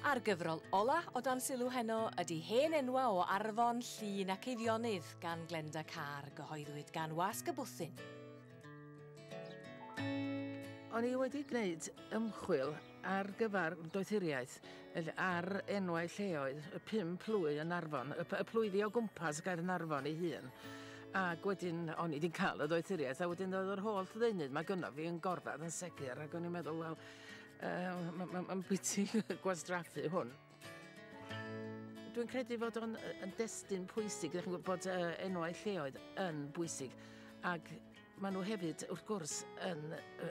A'r gyfrol ola' o dan sylw heno ydi Hen Enwa' o Arfon, Llŷn ac Eifionydd gan Glenda Carr, gyhoeddwyd gan Wasg y Bwthyn. O'n i wedi gwneud ymchwil ar gyfer doethuriaeth felly ar enwau lleoedd y pum plwy yn Arfon, y, y plwyddi o gwmpas Gaernarfon ei hun. Ac wedyn, o'n i wedi cael y doethuriaeth, a wedyn oedd yr holl ddeunydd mae gynno fi yn gorfod yn segur, ac o'n i'n meddwl, wel, Uh, Mae'n ma, bwyty gwastraffu hwn. Dwi'n credu fod o'n yn destun pwysig, ydych chi'n gwybod bod uh, enwau lleoedd yn bwysig, ac maen nhw hefyd, wrth gwrs, yn,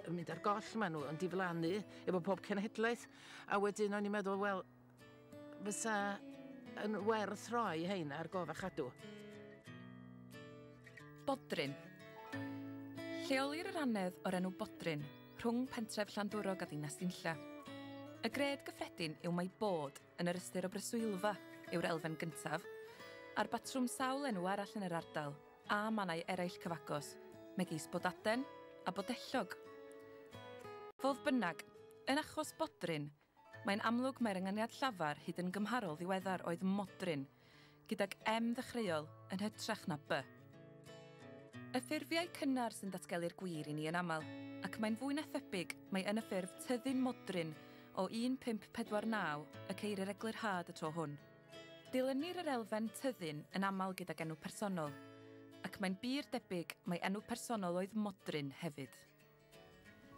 yn mynd ar goll, maen nhw yn diflannu efo pob cenhedlaeth, a wedyn o'n i'n meddwl, wel, fysa yn werth rhoi hein ar gof a chadw. Bodrin. Lleolir yr annedd o'r enw Bodrin rhwng pentref Llandwrog a ddinas Dinlla. Y gred gyffredin yw mai bod yn yr ystyr o breswylfa yw'r elfen gyntaf, a'r batrwm sawl enw arall yn yr ardal, a mannau eraill cyfagos, megis Bodaden a Bodellog. Fodd bynnag, yn achos Bodrin, Mae'n amlwg mai'r ynganiad llafar hyd yn gymharol ddiweddar oedd 'modryn', gydag 'M' ddechreuol, yn hytrach na 'B'. Y ffurfiau cynnar sy'n datgelu'r gwir i ni yn aml, ac mae'n fwy na thebyg mai yn y ffurf tyddyn modryn o 1549 y ceirir eglurhad y tro hwn. Dilynir yr elfen 'tyddyn' yn aml gydag enw personol, ac mae'n bur debyg mai enw personol oedd 'modryn' hefyd.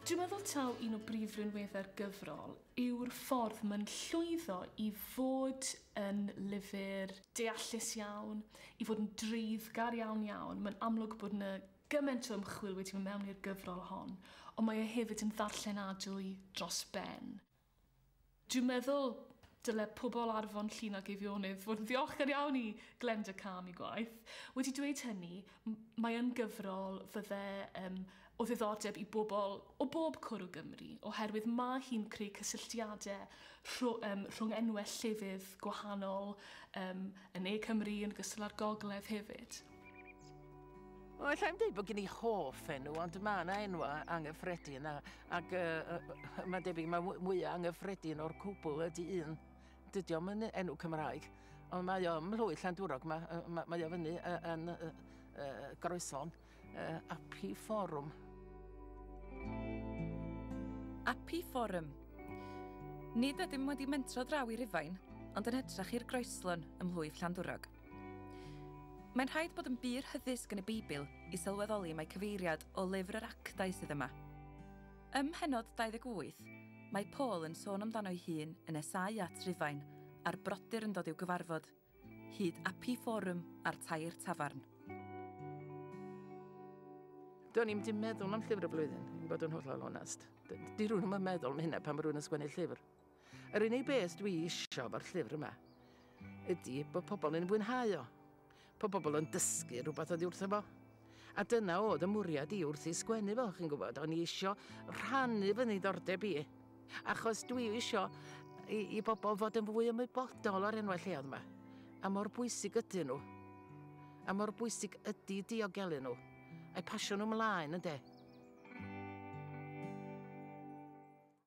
Dwi'n meddwl taw un o brif rinweddau'r gyfrol yw'r ffordd mae'n llwyddo i fod yn lyfr deallus iawn, i fod yn dreiddgar iawn iawn. Mae'n amlwg bod 'na gymaint o ymchwil wedi mynd mewn i'r gyfrol hon, ond mae e hefyd yn ddarllenadwy dros ben. Dwi'n meddwl dyle pobl ar Fron Llŷn ac Eifionydd fod yn ddiolchgar iawn i Glenda Cam ei gwaith. Wedi dweud hynny, m- mae yn gyfrol fydde yym o ddiddordeb i bobl o bob cwr o Gymru, oherwydd mae hi'n creu cysylltiade rhw- yym rhwng enwe llefydd gwahanol yym yn ne Cymru yn ogystal â'r gogledd hefyd. Wel, alla i'm dweud bod gen i hoff enw, ond mae yna enwa anghyffredin, a, ac uh, uh, mae'n debyg mae mwyaf anghyffredin o'r cwbl ydy un. Dydy o'm yn enw Cymraeg, ond mae o ym Mhlwy Llandwrog, mae, uh, mae, mae o fyny uh, yn uh, uh, groeson uh, Api Forum. Api Forum. Nid ydym wedi mentro draw i Rufain, ond yn hytrach i'r groeslon ym Mhlwy Llandwrog. Mae'n rhaid bod yn bur hyddysg yn y Beibl i sylweddoli mai cyfeiriad o lyfr yr Actau sydd yma. Ym mhennod 28, mae Paul yn sôn amdano'i hun yn nesáu at Rufain a'r brodyr yn dod i'w gyfarfod, hyd Api Forum a'r Tair Tafarn. Do'n i'm di meddwl am llyfr y flwyddyn, i fod yn hollol onest. Di rhywun yn meddwl am hynna pan mae rhywun yn sgwennu llyfr. Yr unig beth dwi isio efo'r llyfr yma ydy bod pobl yn fwynhau o, bod pobl yn dysgu rhywbeth oddi wrtho fo. A dyna oedd y mwriad i wrth i sgwennu fo, chi'n gwybod, o'n i isio rhannu fy niddordeb i, achos dwi isio i, i bobl fod yn fwy ymwybodol o'r enwau lleoedd yma, a mor bwysig ydyn nhw, a mor bwysig ydy diogelu nhw, a'i pasio nhw mlaen, ynde?